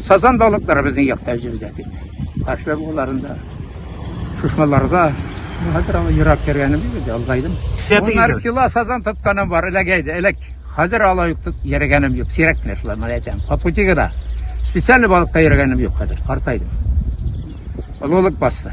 Сазан балыклары безнең якта үзебез әти. Каршы буларында. Шушмаларда хәзер аңа ерак кергәне бит, алдайдым. Моннар кило сазан тотканым бар, эләгәйде, эләк. Хәзер ала юк, йөргәнем юк, сирәк кенә шулай мына әйтәм. По пути гына. Специально балыкта йөргәнем юк хәзер, картайдым. Олылык басты.